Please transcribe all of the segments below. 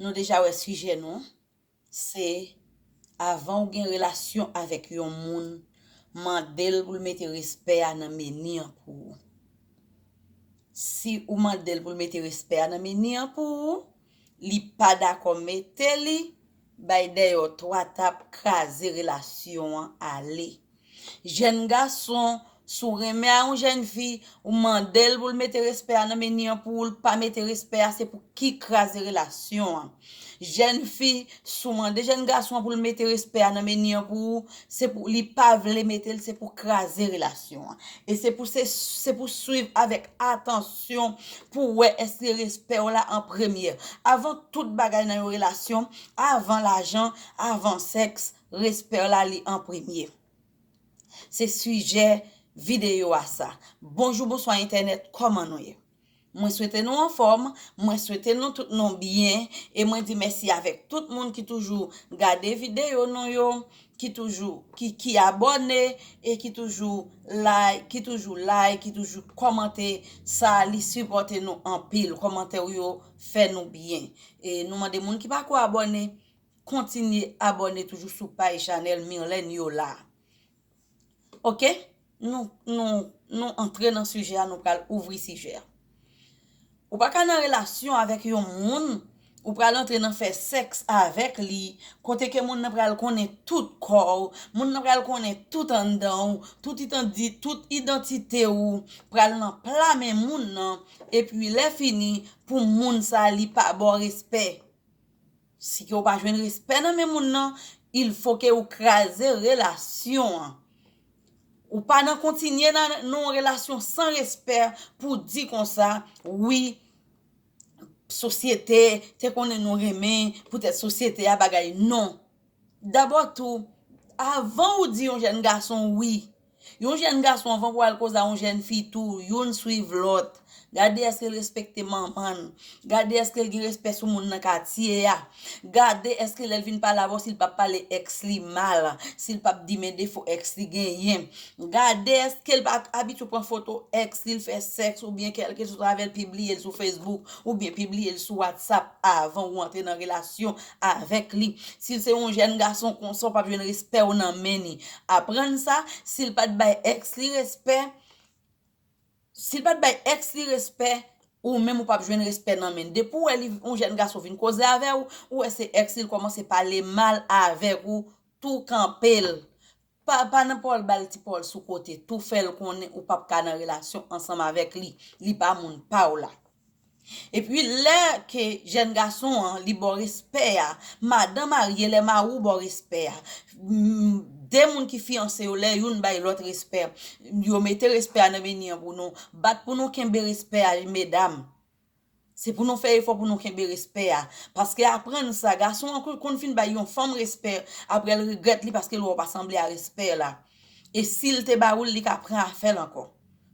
Nou deja wè sijè nou an, se avan ou gen relasyon avèk yon moun mande l pou l mete respè a nan meni an pou ou. Si ou mande l pou l mete respè a nan meni an pou ou, li pa dakò mete li, Bay deyò 3 tap kraze relasyon an ale. Jèn gason, si w renmen a yon jèn fi, ou mande l pou l mete respè a nan meni an pou ou l pa mete respè a se pou ki kraze relasyon an. Jèn fi, si w mande jèn gason an pou l mete respè a nan meni an pou ou, se pou li pa vle mete l se pou kraze relasyon an. E se pou se pou swiv avèk atansyon. relasyon pou w wè èske respè w la an premyè. Avan tout bagay nan yon relasyon, avan lajan, avan sèks, respè w la li an premye. Se sijè videyo a sa. Bonjou bonswa entènèt kòman nou ye? Mwen swete nou anfòm, mwen swete nou tout nou byen e mwen di mèsi avèk tout moun ki toujou gade videyo nou yo, ki toujou ki ki abòne e ki toujou like ki toujou like ki toujou kòmante sa li sipòte nou anpil kòmantè ou yo fè nou byen e nou mande moun ki pako abòne kontinye abòne toujou sou paj chanèl Mirlène Yola. Ok nou nou nou antre nan sijè a nou pral ouvri sijè a. Ou pa ka nan relasyon avèk yon moun ou pral antre nan fè sèks avèk li kote ke moun nan pral konnen tout kò ou, moun nan pral konnen tout anndan ou, tout itandi, tout idantite ou pral nan pla men moun nan epi lè fini pou moun sa li pa ba w respè. Si ke ou pa jwenn respè nan men moun nan, il fo ke ou kraze relasyon an. Ou pa nan kontinye nan yon relasyon san respè pou di konsa, wi, sosyete te konnen nou renmen, poutèt sosyete a bagay non. Dabò tou, avan ou di yon jèn gason wi, Yon jèn gason anvan pou al koze a yon jèn fi tou, youn swiv lòt, gade èske l respekte manman l, gade èske l gen respè sou moun nan katye a, gade èske lè l vin pale avè w si l p ap pale èks li mal, si l p ap di men defo èks li genyen, gade èske l pa abitye pran foto èks li l fè sèks oubyen kèlkesòt avè l pibliye l sou Facebook oubyen pibliye l sou WhatsApp avan ou antre nan relasyon avèk li. Si l se yon jèn gason konsa w pap jwenn respè w nan men ni. Aprann sa, si l pat bay èks li respè, si l pat bay èks li respè, ou menm ou pap jwenn respè nan men. Depi w wè li yon jèn gason vin koze avè w, ou wè se èks li l kòmanse pale mal avèk ou, tou kanpe l. Pa pa nan paw bal ti paw sou kote tou fèl konnen ou pap ka nan relasyon ansanm avèk li li pa moun paw la epi lè ke jèn gason an li baw respè a madan marye lè mariw baw respè a de moun ki fiyanse yo lè youn bay lòt respè yo mete respè a nan meni an pou nou bat pou nou kenbe respè a medam. Se pou nou fè efò pou nou kenbe respè a. Paske aprann sa, gason an konn fin bay yon fanm respè, aprè l regrèt li paske l wè w pa sanble a respè la. E si l te ba ou l li ka pran afè l ankò.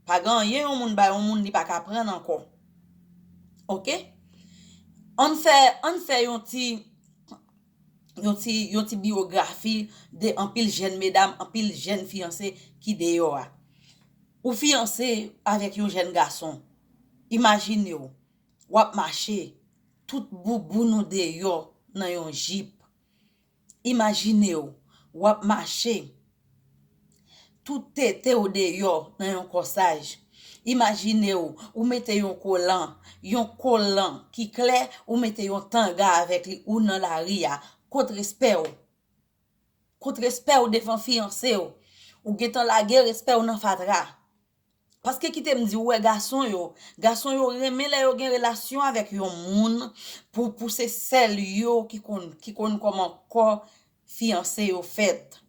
Pa gen anyen yon moun bay yon moun li pa ka pran ankò. Ok? Ann fè, ann fè yon ti, yon ti, yon ti biyografi de anpil jèn medam, anpil jèn fiyanse ki deyò a. Ou fiyanse avèk yon jèn gason. Imajinew wap mache tout bouboun ou deyò nan yon jip. Imajinew wap mache tout tetew deyò nan yon kòsaj. Imajinew ou mete yon kolan, yon kolan ki klè ou mete yon tanga avèk li ou nan lari a. Kot respèw? Kot respèw devan fiyansew? Ou gentan lage respèw nan fatra. Paske kite m di ou wè gason yo, gason yo renmen lè yo gen relasyon avèk yon moun pou pou se sèl yo ki konn ki konn kòman kò fiyanse yo fèt.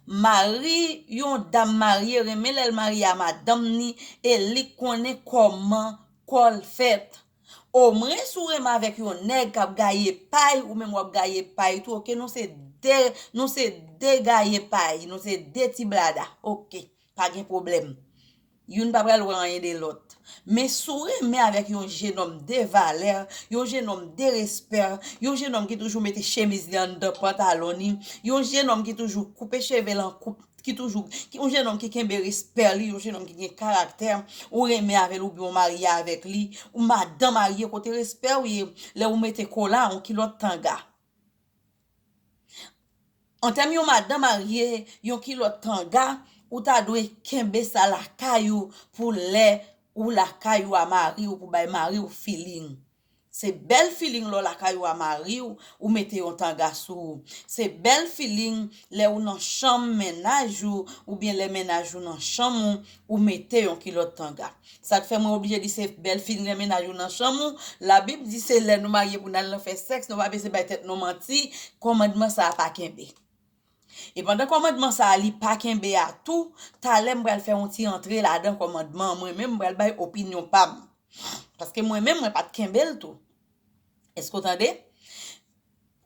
Mari yon dam marye renmen lè l marye a madanm ni e li k konnen kòman kò l fèt. Omwen si w renmen avèk yon nèg k ap gaye pay ou menm w ap gaye pay tou ok nou se 2 nou se 2 gaye pay nou se 2 ti blada ok. Pa gen pwoblèm. Youn pa pral wè anyen de lòt. Men si w renmen avèk yon jenòm de valè, yon jenòm de respè, yon jenòm ki toujou mete chemiz li anndan pantalon li, yon jenòm ki toujou koupe cheve l an koup, ki toujou, yon jenòm ki kenbe respè li, yon jenòm ki gen karaktè, ou renmen avè l oubyen ou marye avèk li, ou madan marye kote respè w ye lè ou mete kola, yon kilòt tanga? An tèm yon madan marye, yon kilòt kanga, ou ta dwe kenbe sa lakay ou pou lè ou lakay ou a mari ou pou bay mari ou feeling. Se bèl feeling lè w lakay ou a mari ou, ou mete yon tanga sou ou. Se bèl feeling lè ou nan chanm mennaj ou oubyen lè mennaj ou nan chanm ou, Ou mete yon kilòt tanga. Sak fè mwen oblije di se bèl fin gen mennaj ou nan chanm ou, la bib di se lè nou marye pou nal nan fè sèks nou pa bese bay tèt nou manti, kòmandman sa pa kenbe. E pandan kòmandman sa li pa kenbe a tou, talè m pral fè yon ti antre ladan kòmandman mwen menm m pral bay opinyon pam. Paske mwen menm mwen pat kenbel tou. Eske ou tande?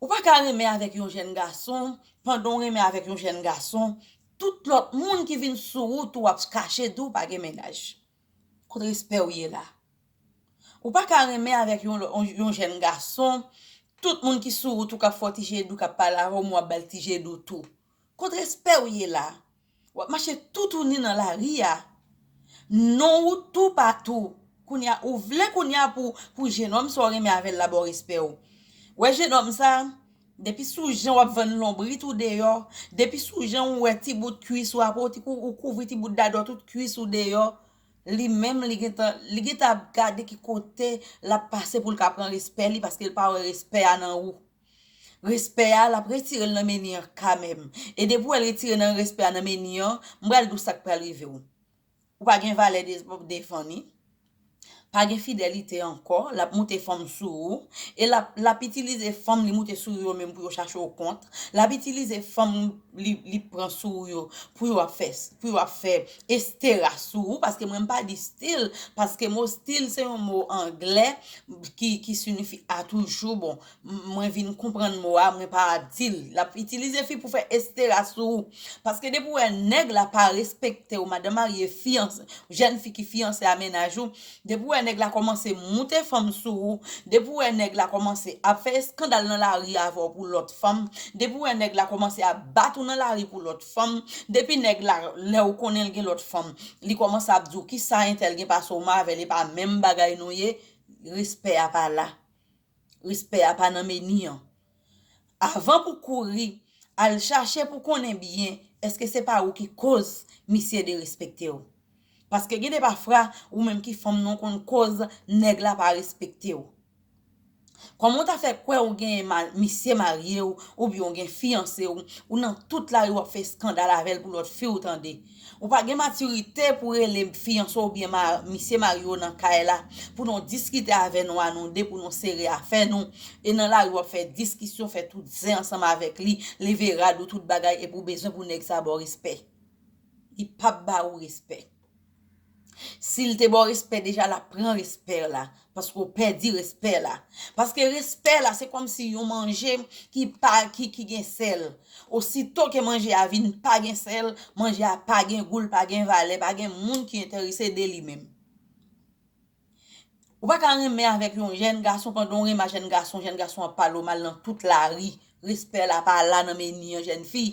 Ou pa ka renmen avèk yon jèn gason, pandan w renmen avèk yon jèn gason, tout lòt moun ki vin sou ou tou ap kache di w pa gen mennaj. Kot respè w ye la? Ou pa ka renmen avèk yon jèn gason, tout moun ki sou ou tou k ap fè w ti je dou, k ap pale avè w men w ap ba l ti je dou tou. Kot respè ou ye la? Wap mache toutouni nan lari a. Non ou tou patou. Kounye a ou vle kounye a pou jenòm sa ou renmen avè l la ba w respè ou. Wè jenòm sa, depi sou jan wap vann lonbrit ou deyò, depi sou jan ou wè ti bout kuis ou aprè ou kouvri ti bout dadò tout kuis ou deyò, li menm li gentan li gentan ap gade ki kote lap pase pou l ka pran respè li paske l pa wè respè a nan ou. Respè a lap retirel nan meni an kamèm e depi wèl retire nan respè a nan meni an m pral diw sak pral rivew ou pa gen valè devan li pa gen fidelite ankò lap moute fanm sou ou e lap lap itilize fanm li moute sou ou yo menm pou yo chache w kont lap itilize fanm li pran sou ou yo pou yo ap fè pou yo ap fè Estera sou ou paske mwen m pa di stil paske mo stil se yon mo anglè ki sinifi a toujou bon mwen vin konprann mo a mwen pa di l l ap itilize fi pou fè estera sou ou paske depi ou wè nèg la pa respekte w madan marye fiyanse jèn fi ki fiyanse a mennaj ou depi ou wè nèg la kòmanse moute fanm sou ou depi ou wè nèg la kòmanse ap fè eskandal nan lari avè w pou lòt fanm depi ou wè nèg la kòmanse ap bat ou nan lari pou lòt Fanm depi nèg la lèw konnenl gen lòt fanm li kòmanse ap diw kisa entèl gen pasew ma avèl epa menm bagay nou ye respè a pa la respè a pa nan meni an avan pou kouri al chache pou konnen byen eske se pa ou ki koz misye derespektew paske gen de pafra ou menm ki fanm nan ou konn koz nèg la pa respektew Kòman ou ta fè kwè ou gen misye marye ou oubyen ou gen fiyanse ou, ou nan tout lari wap fè eskandal avèl pou lòt fi ou tande. Ou pa gen matirite pou rele fiyanse ou oubyen misye marye ou nan kay la pou nou diskite avè nou a nou de pou nou sere afè nou e nan lari wap fè diskisyon fè tout zen ansanm avèk li, leve rad ou tout bagay epi ou bezwen pou nèg sa baw respè. Li pap ba ou respè. Sil te baw respè deja lap pran respè la paske ou pèdi respè la paske respè la se kòmsi yon manje ki pa ki gen sèl osito ke manje a vin pa gen sèl manje a pa gen gou l pa gen valè pa gen moun ki enterese de li menm. Ou pa ka renmen avèk yon jèn gason pandan w renmen a jèn gason, jèn gason ap pale w mal nan tout lari, respè la pa la nan meni an jèn fi.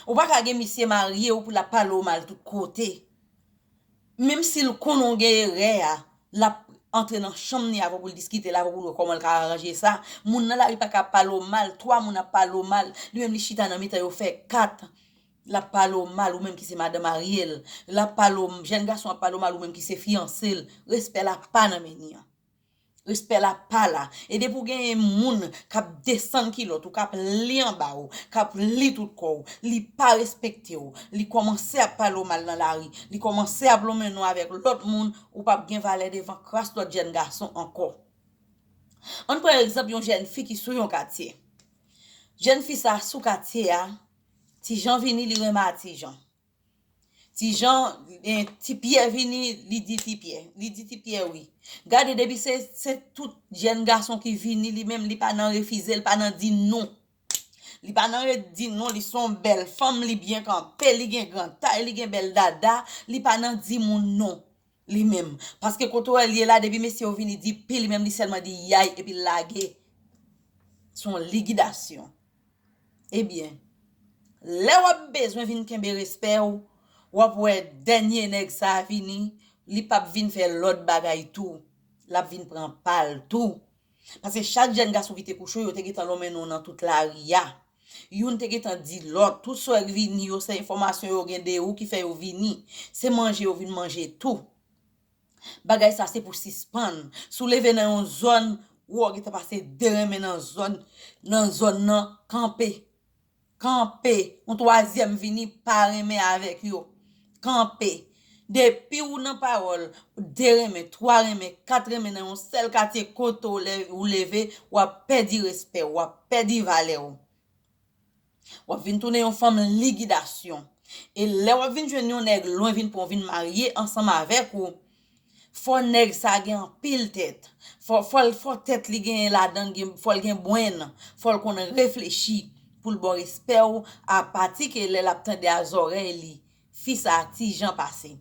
Ou pa ka gen misye marye w pou l ap pale w mal tout kote. Menm si l konnen w gen erè a, l ap antre nan chanm ni avè w pou l diskite l avè w pou l wè kòman l ka aranje sa. Moun nan lari pa ka ap pale w mal, 3 moun ap pale w mal, li menm li chita nan mitan yo fè 4. Lap pale w mal ou menm ki se madanm Ariel lap pale w jèn gason ap pale w mal ou menm ki se fiyanse l respè la pa nan meni an respè la pa la e depi w genyen moun kap desann kilòt ou kap li anba w kap li tout kò w li pa respekte w li kòmanse ap pale w mal nan lari li kòmanse ap lonmen nou avèk lòt moun ou pap gen valè devan kras lòt jèn gason ankò ann pran egzanp yon jèn fi ki sou yon katye jèn fi sa sou katye a Ti Jan vini li renmen a ti Jan. Ti Jan eh, ti Pyè vini li di ti Pyè. Li di ti Pyè wi. Gade depi se se tout jèn gason ki vini li menm li pa nan refize li pa nan di non. Li pa nan ret di non li son bèl fanm li byen kanpe li gen gran tay li gen bèl dada li pa nan di moun non. Li menm. Paske kote w wè l ye la depi mesye yo vini di pi li menm li sèlman di yay epi l lage. S on ligidasyon. Ebyen, lè w ap bezwen vin kenbe respè w, w ap wè dènye nèg sa a vini, li p ap vin fè lòt bagay tou. L ap vin pran pa l tou. Paske chak jèn gason ki te kouche w yo te gentan lonmen non w nan tout lari a. Youn te gentan di lòt, tout sa w wè k vini yo se enfòmasyon yo gen de ou ki fè yo vini. Se manje yo vin manje tou. Bagay sa se pou sispann. Si w leve nan yon zòn, ou wè w gentan pase de renmen nan zòn nan zòn nan, kanpe. Kanpe. Yon twazyèm vini pa renmen avèk yo. Kanpe. Depi ou nan pawòl, 2 renmen, 3 renmen, 4 renmen nan yon sèl katye kote w lè ou leve, w ap pèdi respè w, w ap pèdi valè w. W ap vin tounen yon fanm ligidasyon. E lè w ap vin jwenn yon nèg lwen vin pran w vin marye ansanm avèk ou, Fò nèg sa gen anpil tèt. Fò tèt li gen ladan fò l gen brenn, fò l konn reflechi pou l ba w respè w a pati ke lè l ap tande a zòrèy li. Fi sa ti Jan pase.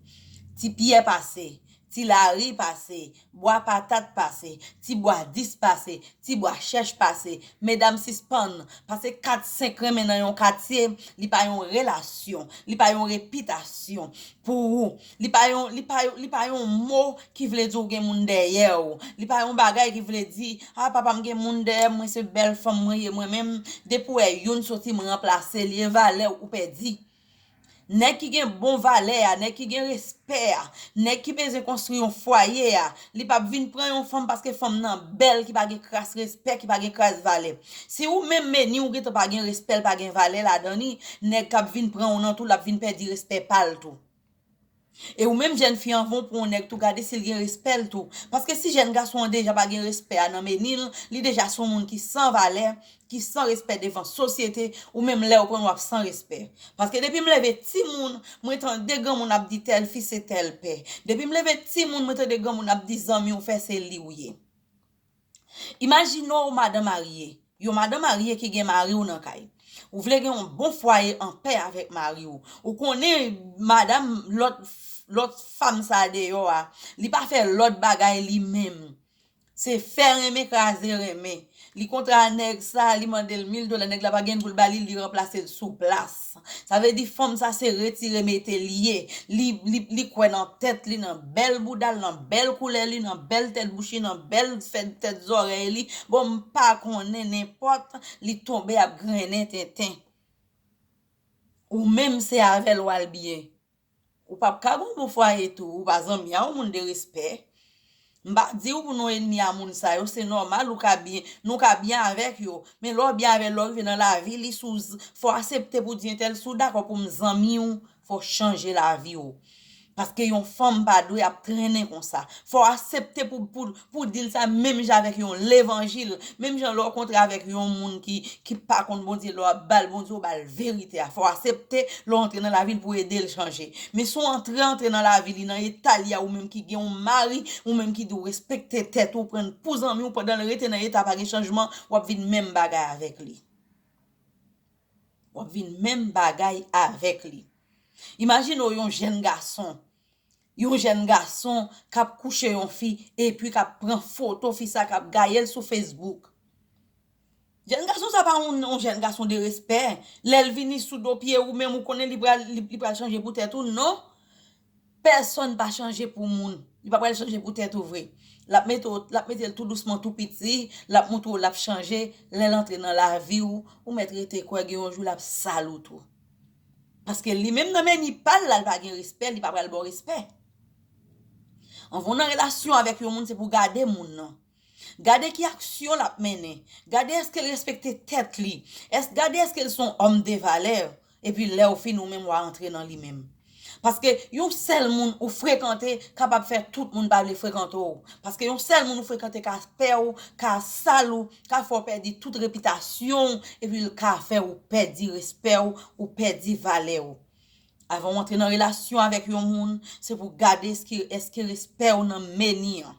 Ti Pyè pase. Ti Lari pase. Bwa patat pase. Ti bwa dis pase. Ti bwa chèch pase. Medam sispann pase kat senk renmen nan yon katye li pa yon relasyon, li pa yon repitasyon pou ou. Li pa yon, li pa yon, li pa yon mo ki vle di ou gen moun dèyè ou. Li pa yon bagay ki vle di, ah papa m gen moun dèyè m, mwen se bèl fanm mwen ye mwen menm, depi w wè youn soti m ranplase l, e valè ou pèdi. Nèg ki gen bon valè a, nèg ki gen respè a, nèg ki bezwen konstwi yon fwaye a, li p ap vin pran yon fanm paske fanm nan bèl ki pa gen kras respè, ki pa gen kras valè. Si ou menm meni ou gentan pa gen respè l pa gen valè ladan li, nèg k ap vin pran ou nan tou l ap vin pèdi respè pa l tou. E ou menm jèn fi anvan ou pran yon nèg tou gade sil gen respè l tou paske si jèn gason an deja pa gen respè a nan meni l li deja son moun ki san valè ki san respè devan sosyete ou menm lèw pranl wap san respè paske depim leve timoun mwen tande granmoun ap di tèl fi se tèl pè depim leve timoun mwen tande granmoun ap di zanmiw fè se liw ye. Imajine w madan marye, yon madan marye ki gen mari w nan kay. Ou vle gen yon bon fwaye anpè avèk mari w. Ou konnen madam lòt lòt fanm sa a deyò a, li pa fè lòt bagay li menm. Se fè renmen kraze renmen. Li kontra nèg sa a, li mande l mil dola, nèg la pa gen pou l ba li, li ranplase l sou plas. Sa vle di fanm sa se retire mete li ye. Li li kwè nan tèt li, nan bèl bouda l, nan bèl koulè li, nan bèl tèt bouch li, nan bèl fè tèt zòrèy li. Bon m pa konnen nenpòt li tonbe ap grennen tenten. Ou menm se avè l w al byen. Ou pap ka gon bon fwaye tou ou pa zanmi a ou moun de respè m pa diw pou nou enmi a moun sa yo se nòmal ou ka byen nou ka byen avèk yo men lè w byen avèl lè w rive nan lavi li sou z fò asepte pou di entèl si w dakò pou m zanmi w fò w chanje lavi w paske yon fanm pa dwe ap trennen konsa fò asepte pou Pou dil sa menm jan avèk yon levanjil, menm jan lè w kontre avèk yon moun ki ki pa konn Bondye lè w ap ba l Bondye ou ba l verite a fò w asepte lè w antre nan lavi l pou w ede l chanje men si w antre antre nan lavi li nan eta li a ou menm ki gen yon mari ou menm ki di w respekte tèt ou pran l pou zanmi w pandan l rete nan eta pa gen chanjman w ap vin menm bagay avèk li w ap vin menm bagay avèk li imajine w yon jèn gason Yon jèn gason kap kouche yon fi epi kap pran foto fi sa kap gayel sou Facebook. Jèn gason sa pa yon jèn gason de respè, lèl vini sou do pye ou menm ou konnen li pral li pral chanje pou tèt ou non. Pèsòn pa chanje pou moun, li pa pral chanje pou tèt ou vre. Lap mete w lap metel tou dousman tou piti, lap moutre w lap chanje, lèl antre nan lavi ou, ou mèt rete kwè gen yon jou lap sal ou tou. Paske li menm nan meni pal la li pa gen respè li pa pral baw respè. Anvan w nan relasyon avèk yon moun se pou w gade moun nan. Gade ki aksyon l ap mennen. Gade èske l respekte tèt li. Gade èske l se yon òm de valè. Epi lèw fin ou menm wa antre nan li menm. Paske yon sèl moun ou frekante kapab fè tout moun pa vle frekante w. Paske yon sèl moun ou frekante ka fè w, ka sal ou, ka fè w pèdi tout repitasyon w epi l ka fè ou pèdi respè w, ou pèdi valè w. Avan w antre nan relasyon avèk yon moun, se pou w gade èske respè w nan meni an.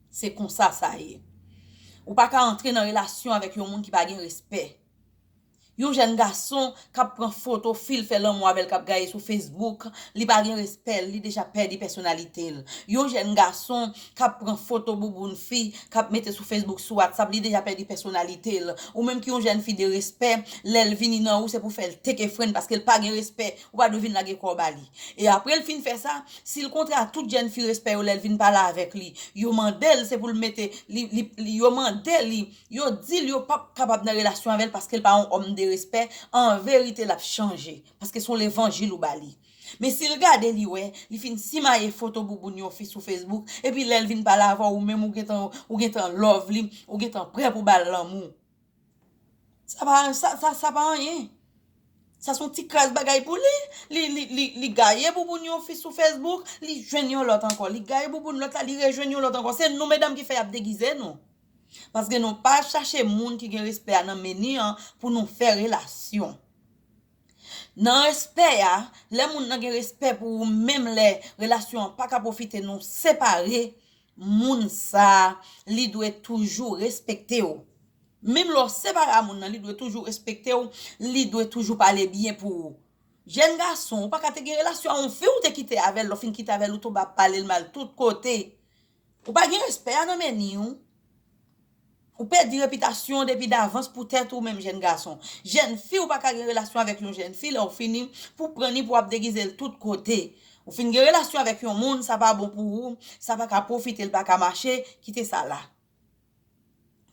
Se konsa sa ye. Ou pa ka antre nan relasyon avèk yon moun ki pa gen respè. Yon jèn gason kap pran foto fil fè lanmou avèl kap gaye sou Facebook li pa gen respè li deja pèdi pèsonalitel yon jèn gason kap pran foto bouboun fi kap mete sou Facebook sou WhatsApp li deja pèdi pèsonalitel ou menm ki yon jèn fi de respè lèl vini nan ou se pou fèl teke fren paskel pa gen respè ou pa dwe vin lage kòw ba li e aprel fin fè sa sil kontre a tout jèn fi respè yo lèl vin pale avèk li yo mandel se poul mete li yo mande li. Yo dil yo pap kapab nan relasyon avèl paskel pa yon homme de respect an verite lap chanje paske son levanjil ou bali men sil gade li wè li fin simaye foto bouboun yon fi sou Facebook epi lèl vin pale avèw ou menm ou gentan ou gentan love li ou gentan prè pou bal lanmou sa pa sa sa pa anyen sa son ti kras bagay pou li li gaye bouboun yon fi sou Facebook li jwenn yon lòt ankò li gaye bouboun lòt la li rejwenn yon lòt ankò se nou medam ki fè yap degize nou. Paske nou pa chache moun ki gen respè a nan meni an pou nou fè relasyon. Nan respè a, lè moun nan gen respè pou ou menm lè relasyon an pa ka pwofite nou separe, moun sa a li dwe toujou respekte w. Menm lè w separe a moun nan li dwe toujou respekte w, li dwe toujou pale byen pou ou. Jèn gason, ou pa ka te gen relasyon a yon fi ou te kite avè l, lè w fin kite avè l ou tonbe ap pale l mal tout kote. Ou pa gen respè a nan meni w. Ou pèdi repitasyon w depi davans pou tèt ou menm jèn gason. Jèn fi ou pa ka gen relasyon avèk yon jèn fi lè w fini pou pran ni pou ap degize l tout kote. Ou fin gen relasyon avèk yon moun sa pa bon pou ou, sa pa ka pwofite l pa ka mache, kite sa la.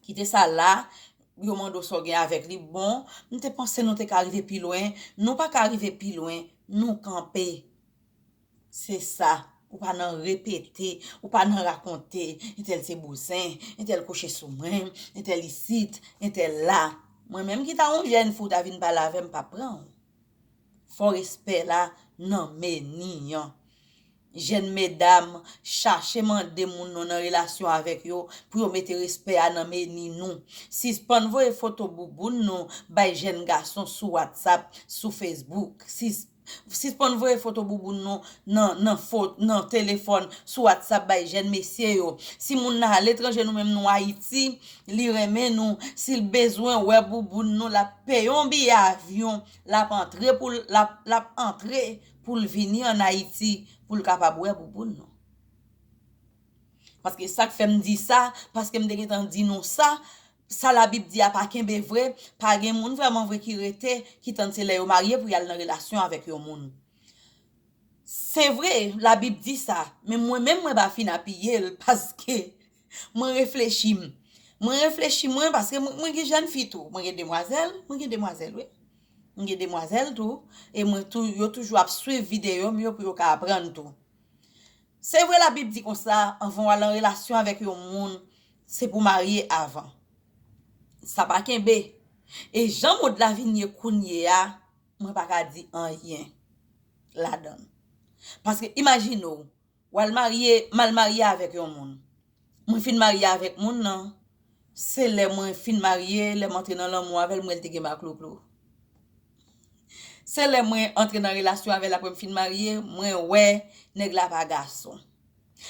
Kite sa la, yo mande w sa w gen avèk li, bon, m te panse nou te ka rive pi lwen, nou pa ka rive pi lwen, nou kanpe. Se sa, ou pa nan repete, ou pa nan rakonte, entèl se bouzen, entèl kouche sou mwen, entèl isit, entèl la. Mwen menm ki ta yon jèn fi w ta vin pale avè m pa pran w. Fò respè la nan meni an. Jèn medam, chache mande moun nou nan relasyon avèk yo pou yo mete respè a nan meni nou. Sispann voye foto bouboun nou bay jèn gason sou whatsapp, sou facebook. Sispann voye foto bouboun nou nan telefòn sou WhatsApp bay jèn mesye yo. Si moun nan aletranje nou menm nou Ayiti, li renmen nou, si l bezwen wè bouboun nou l ap peye yon biye avyon, l ap antre pou l ap antre pou l vini an Ayiti pou l kapab wè bouboun nou. Paske sa k fè m di sa, paske m te gentan di nou sa, Sa labib di a pa kenbe vre, pa gen moun vrèman vre ki rete, ki tann se lè yo marye pou yal nan relasyon avèk yon moun. Se vre, labib di sa, men mwen menm mwen pa fin apiye l paske mwen reflechi m. Mwen reflechi mwen paske mwen gen jèn fi tou, mwen gen demwazèl, mwen gen demwazèl wi. Mwen gen demwazèl tou e mwen tou yo toujou ap swiv videyo m yo pou yo ka aprann tou. Se vre labib di konsa, anvan w al an relasyon avèk yon moun, Se pou marye avan. Sa pa kenbe. E jan mond la vin ye kounye a, mwen pa ka di anyen ladan l. Paske imajine w, w al marye, m al marye avèk yon moun. Mwen fin marye avèk moun nan, se lè mwen fin marye, lè m antre nan lanmou avè l, m wè l te gen baklouklou. Se lè mwen antre nan relasyon avè l apre m fin marye, mwen wè nèg la pa gason.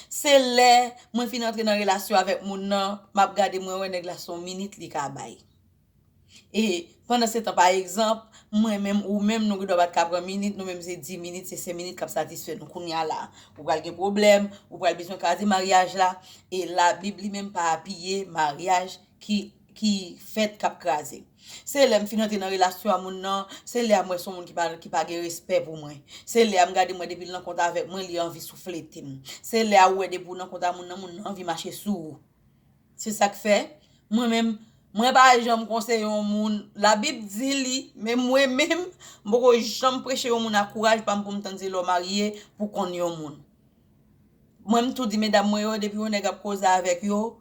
Se lè mwen fin antre nan relasyon avèk moun nan map gade mwen wè nèg la son minit li ka bay e pandan setan pa egzanp mwen menm ou menm nou gendwa pat ka pran minit nou menm se 10 minit se 5 minit kap satisfè nou kounya la ou pral gen pwoblèm ou pral bezwen kaze maryaj la e la bib li menm pa apiye maryaj ki ki fèt kap kraze. Se lèm fin antre nan relasyon a moun nan, se lè a m wè se yon moun ki pa gen respè pou mwen. Se lè a m gade m wè depi l nan kont avèk mwen li anvi souflete m. Se lè a ou wè depi ou nan kont a moun nan, moun nan anvi mache sou ou. Se sak fè mwen menm mwen pa janm konseye yon moun, la bib di li men mwen menm m poko janm preche yon moun a kouraj pa m pou m tann se lè w marye pou w konn yon moun. Mwen m tou di medam mwen yo depi yon nèg ap koze avèk yo,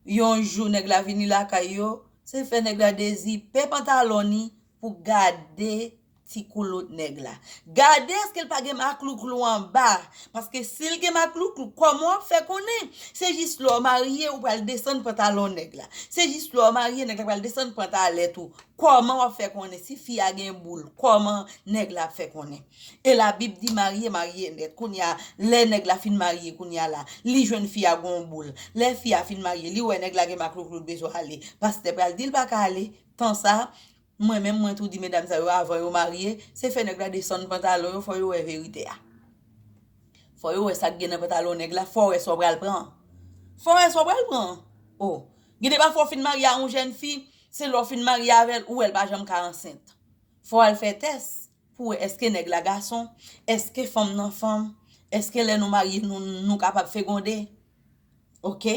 Yon jou nèg la vini lakay yo, se fè nèg la dezipe pantalon ni pou gade ti koulout nèg la. Gade èske l pa gen maklouklou anba, paske si l gen maklouklou kòman w ap fè konnen? Se jis lè w marye ou pral desann pantalon nèg la. Se jis lè w marye nèg la pral desann pantalèt ou. Kòman w ap fè konnen si fi a gen boul, kòman nèg la ap fè konnen? E la bib di marye marye nèt kounya lè nèg la fin marye kounya la li jwenn fi a gon boul lè fi a fin marye li wè nèg la gen maklouklou li bezwen ale pastè pral dil paka ale tan sa mwen menm mwen tou di medam sa yo avan yo marye se fè nèg la desann pantalon yo fò yo wè verite a fò yo wè sak gen nan pantalon nèg la fò wè sa w pral pran an fò wè sa w pral pran an o gen de pafwa w fin marye a yon jèn fi se lè w fin marye avèl ou wèl pa janm ka ansent fò al fè tès Pou wè eske nèg la gason, eske fanm nan fanm, eske lè nou marye nou nou kapab fegonde. Ok.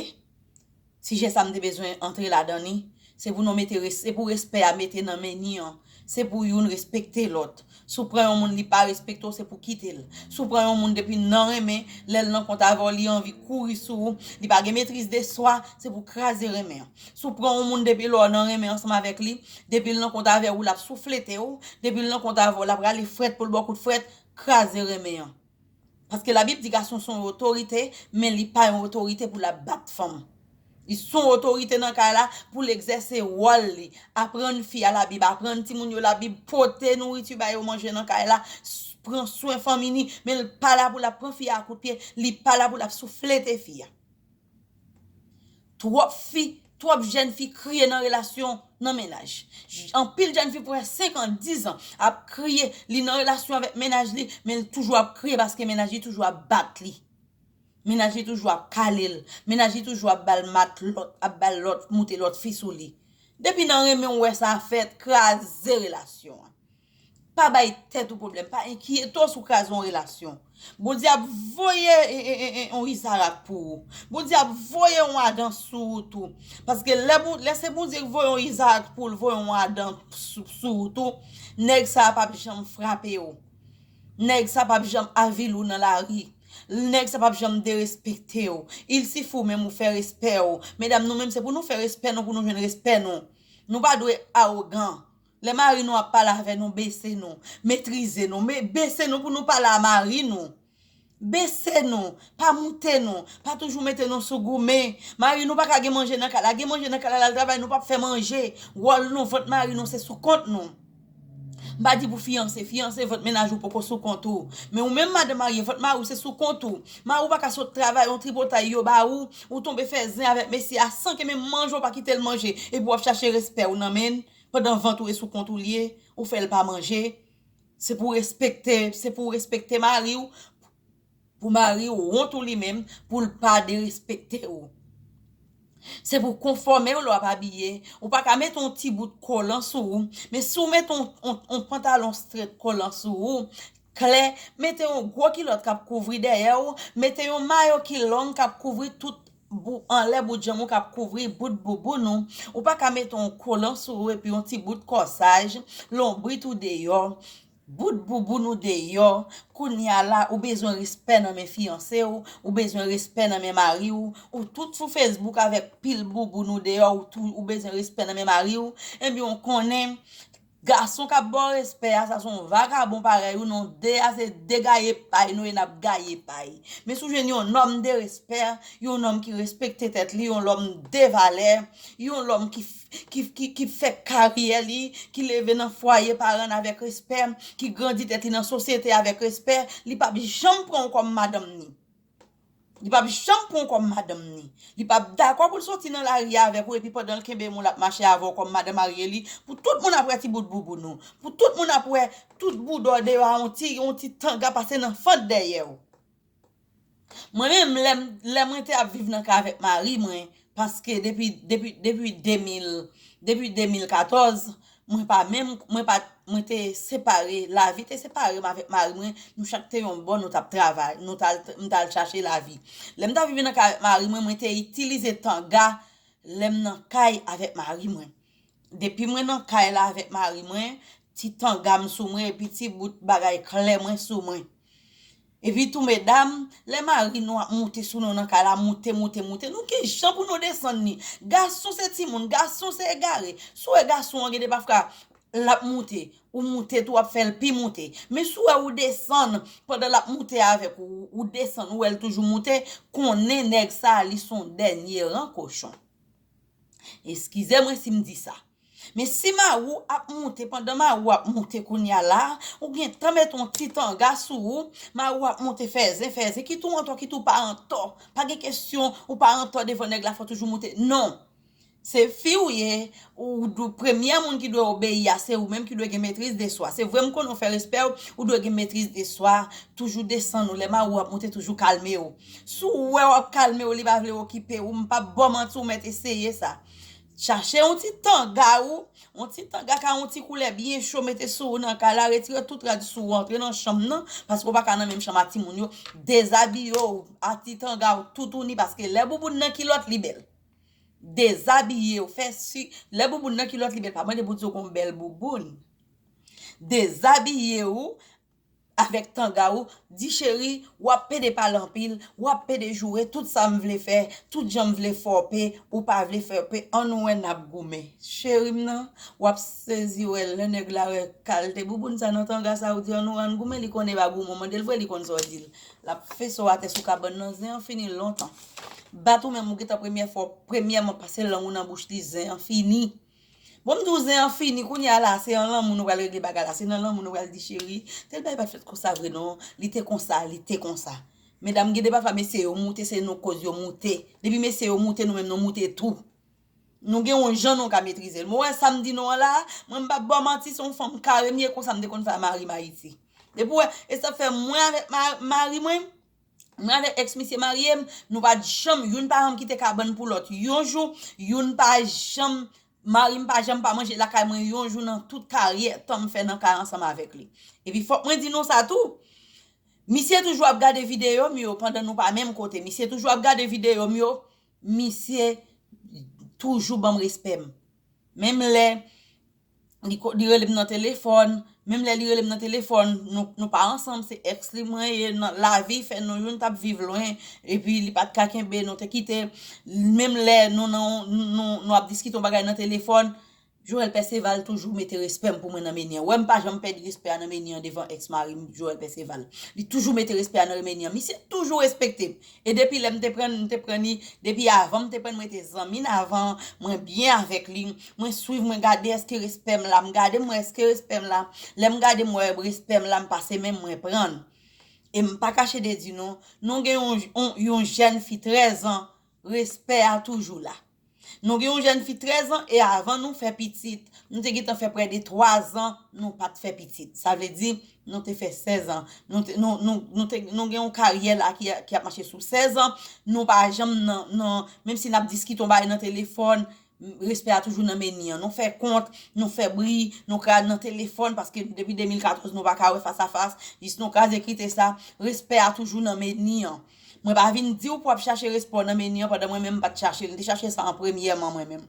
Sijè sa m te bezwen antre ladan li. Se pou nou mete res, se pou respè a mete nan meni an. Se pou youn respekte lòt. Si w pran yon moun li pa respekte w se pou kite l. Si w pran yon moun depi nan renmen, lè l nan kont avè w li anvi kouri sou ou, li pa gen metriz de swa, se pou kraze renmen an. Si w pran yon moun depi lè w nan renmen ansanm avèk li, depi l nan kont avè w l ap souflete w, depi l nan kont avè w l ap rale frèt pou l ba w kout frèt, kraze renmen an. Paske labib di gason son yon otorite men li pa yon otorite pou l ap bat fanm. Li son otorite nan kay la pou l egzèse wòl li, aprann fi a labib, aprann timoun yo labib, pote nouriti ba yo manje nan kay la, pran swen fanmi ni, men l pa la pou l ap pran fi a kout pye, li pa la pou l ap souflete fi a. Twòp fi, twòp jèn fi kriye nan relasyon, nan mennaj. Anpil jèn fi pran 5 an, 10 an ap kriye, li nan relasyon avèk mennaj li, men li toujou ap kriye paske mennaj li toujou ap bat li. Mennaj li toujou ap kale l, mennaj li toujou ap ba l matlòt, ap ba l lòt, moute lòt fi sou li. Depi nan renmen ou wè sa fèt, kraze relasyon an. Pa bay tèt ou pwoblèm, pa enkyete w si w kraze yon relasyon. Bondye ap voye yon Izarak pou ou. Bondye ap voye yon Adan sou ou tou. Paske lè se Bondye ki voye yon Izarak pou ou, li voye yon Adan sou ou tou, nèg sa a pap janm frape ou. Nèg sa a pap janm avili ou nan lari. Nèg sa a pap janm derespekte ou. Il sifi ou menm ou fè respè ou. Medam nou menm se pou nou fè respè nou pou nou jwenn respè nou. Nou pa dwe awogan. Lè mari nou ap pale avè nou bese nou, metrize nou, bese nou pou nou pale a mari nou. Bese nou, pa moute nou, pa toujou mete nou sou goumen. Mari nou pa ka gen manje nan kay la, gen manje nan kay la lal travay nou pap fè manje. Wòl nou, vant mari nou se sou kont nou. M pa di pou fiyanse, fiyanse vant mennaj ou poko sou kont ou. Men ou menm madan marye vant mari ou se sou kont ou. Mari ou pa ka sot travay yon tripotay yo ba ou, ou tonbe fè zen avèk mesye a san ke menm manje ou pa kite l manje epi w ap chache respè ou nan men l. pandan vant ou e sou kont ou liye ou fèl pa manje se pou respekte se pou respekte mariw pou mariw wont ou li menm poul pa derespekte ou se pou konfòmew lè wap abiye ou paka met yon ti bout kolan sou ou men si ou met yon pantalon strèt kolan sou ou klè mete yon gwo kilòt kap kouvri dèyèw mete yon mayo ki long kap kouvri tout bou anlè bout janm ou kap kouvri bout bouboun ou, ou pa ka mete yon kolan sou ou epi yon ti bout kòsaj, lonbrit ou deyò, bout bouboun ou deyò, kounya la ou bezwen respè nan men fiyanse ou, ou bezwen respè nan men mari ou, ou tout sou Facebook avèk pil bouboun ou deyò ou bezwen respè nan men mari ou, ebyen ou konnen. Gason kap baw respè a sa son vagabon parèy ou non 2 a se 2 gaye pay nou ye nap gaye pay men si w jwenn yon nòm de respè yon nòm ki respekte tèt li yon lòm de valè yon lòm ki fè karyè li ki leve nan fwaye paran l avèk respè ki grandi tèt li nan sosyete avèk respè li pap janm pran w kòm madanm ni. Li pap janm pran w kòm madanm ni. Li pap dakò pou l soti nan lari a avèk ou epi pandan l kenbe moun l ap mache avè w kòm madan marye li pou tout moun ap wè ti bout bouboun ou, pou tout moun ap wè tout boudò w deyò a yon ti yon ti tanga pase nan fant dèyè w. Mwen menm lè m lè mwen te ap viv nan kay avèk mari mwen Paske depi depi depi 2000 depi 2014 mwen pa menm mwen pa mwen te separe lavi te separe m avèk mari mwen nou chak te yon bò nou tap travay nou tal m tal chache lavi lèm tap viv nan kay avèk mari mwen mwen te itilize tanga lèm nan kay avèk mari mwen depi mwen nan kay la avèk mari mwen ti tangam sou mwen epi ti bout bagay klè mwen sou mwen. Epi tou medam, lè mari nou ap moute sou nou nan kay la, moute, moute, moute, nou ki jan pou nou desann li? Gason se timoun, gason se egare. Si w wè gason an gen de pafka, l ap moute, ou moute tou w ap fè l pi moute. Men si w wè ou desann, pandan l ap moute avèk ou, ou desann ou wè l toujou moute, konnen nèg sa a li s on dènye ran kochon. Eskize mwen si m di sa. Men si mari w ap moute pandan mari w ap moute kounya la, ou gen tan met yon ti tanga sou ou, mari w ap moute fè zen fè zen, kit ou antò kit ou pa antò, pa gen kesyon ou pa antò devan nèg la fò toujou moute non, se fi ou ye ou premyè moun ki dwe obeyi a se ou menm ki dwe gen metriz de swa, se vre m konnen ou fè respè w, ou dwe gen metriz de swa, toujou desann ou lè mari w ap moute toujou kalme w, si w wè w ap kalme w li pa vle okipe w m pap ba w manti ou mèt eseye sa. Chache yon ti tanga ou, yon ti tanga ka yon ti koulè byen cho mete sou ou nan kay la, retire tout rad sou ou antre nan chanm nan, paske ou pa ka nan menm chanm ak timoun yo, dezabiye ou ak ti tanga ou toutouni paske lè bouboun nan kilòt li bèl. Dezabiye ou, fè si lè bouboun nan kilòt li bèl, pa mande pou di ou gon bèl bouboun. Dezabiye ou. avèk tanga ou di cheri wap pede pale anpil wap pede joure tout sa m vle fè tout jan m vle fòpe ou pa vle fòpe an nou wè nap goumen cheri m nan wap sezi wè lè nèg la wè kalte bouboun sa nan tanga sa ou di an nou ann goumen li konnen epa goumon mandel vre li konn sa w di l lap fese w atè sou kabann nan zen an fini lontan bat ou menm ou gentan premyè fwa w premyèman pase lang ou nan bouch li zen an fini. Bon m di w zen an fini kounya la se an lanmou nou pral regle bagay la se nan lanmou nou pral di cheri tel bagay pat fèt konsa vre non li te konsa li te konsa medam gen de pafwa mesye yo moute se nou koz yo moute depi mesye yo moute nou menm nou moute tou nou gen yon jan nou ka metrize l mwen wè sa m di nou an la mwen m pap ba w manti se yon fanm kare m ye konsa m te konn fè a mari m ayiti depi w wè e sa fè mwen avèk mari mwen Mwen avèk ex misye marye, nou pat janm youn pa janm kite kabann pou lòt yon jou, youn pa janm mari m pa janm pa manje lakay mwen yon jou nan tout karyè tan m fè nan kay ansanm avèk li. Epi fòk mwen di nou sa tou, misye toujou ap gade videyo m yo pandan nou pa menm kote, misye toujou ap gade videyo m yo, misye toujou banm respè m. Menm lè. li relem nan telefòn, menm lè li relem nan telefòn nou pa ansanm se ex li mwen ye lavi fè nou youn tap viv lwen epi li pat ka kenbe nou te kite menm lè nou nan nou ap diskite yon bagay nan telefòn Joel Perceval toujou mete respèm pou mwen nan menyen wèm pa janm pèdi respè a nan menyen devan ex marim Joel Perceval li toujou mete respè a nan menyen misye toujou respektem E depi lèm te prann mte prann li depi avan mte prann mwen te zanmin avan mwen byen avèk li mwen swiv mwen gade eske respèm la mgade mwen eske respèm la lèm gade mwen wè respèm la mpase menm mwen prann em pa kache de di nou nou gen yon jèn fi 13 ans respè a toujou la. Nou gen yon jèn fi 13 an e avan nou fè pitit, nou te gentan fè prè de 3 zan nou pat fè pitit. Sa vle di nou te fè 16 an. Nou gen yon karyè la ki ap mache sou 16 an. Nou pa janm nan, menm si nap diskite yon bagay nan telefòn, respè a toujou nan meni an. Nou fè kont, nou fè bri, nou ka nan telefòn paske depi 2014 nou pa ka wè fas a fas, jis nou kraze krite sa, respè a toujou nan meni an. Mwen pa vin diw pou ap chache respaw nan menu an pandan mwen menm pat chachel m te chache sa an premyèman mwen menm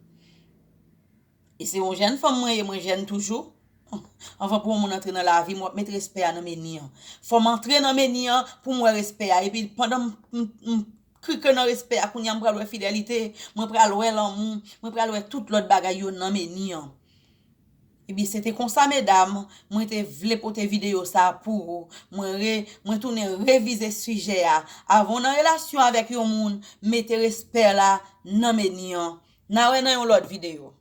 e se yon jèn fanm mwen ye mwen jèn toujou anvan pou yon moun antre nan lavim wap met respè a nan menu an fòm antre nan menu an poum wè respè a epi pandan m krike nan respè a kounya m pral wè fidelite mwen pral wè lanmou mwen pral wè tout lòt bagay yo nan menu an. Ebyen se te konsa medam, mwen te vle pote videyo sa pou ou, mwen re, mwen tounen revize sijè a, avan w nan relasyon avèk yon moun, mete respè la nan meni an. Na wè nan yon lòt videyo.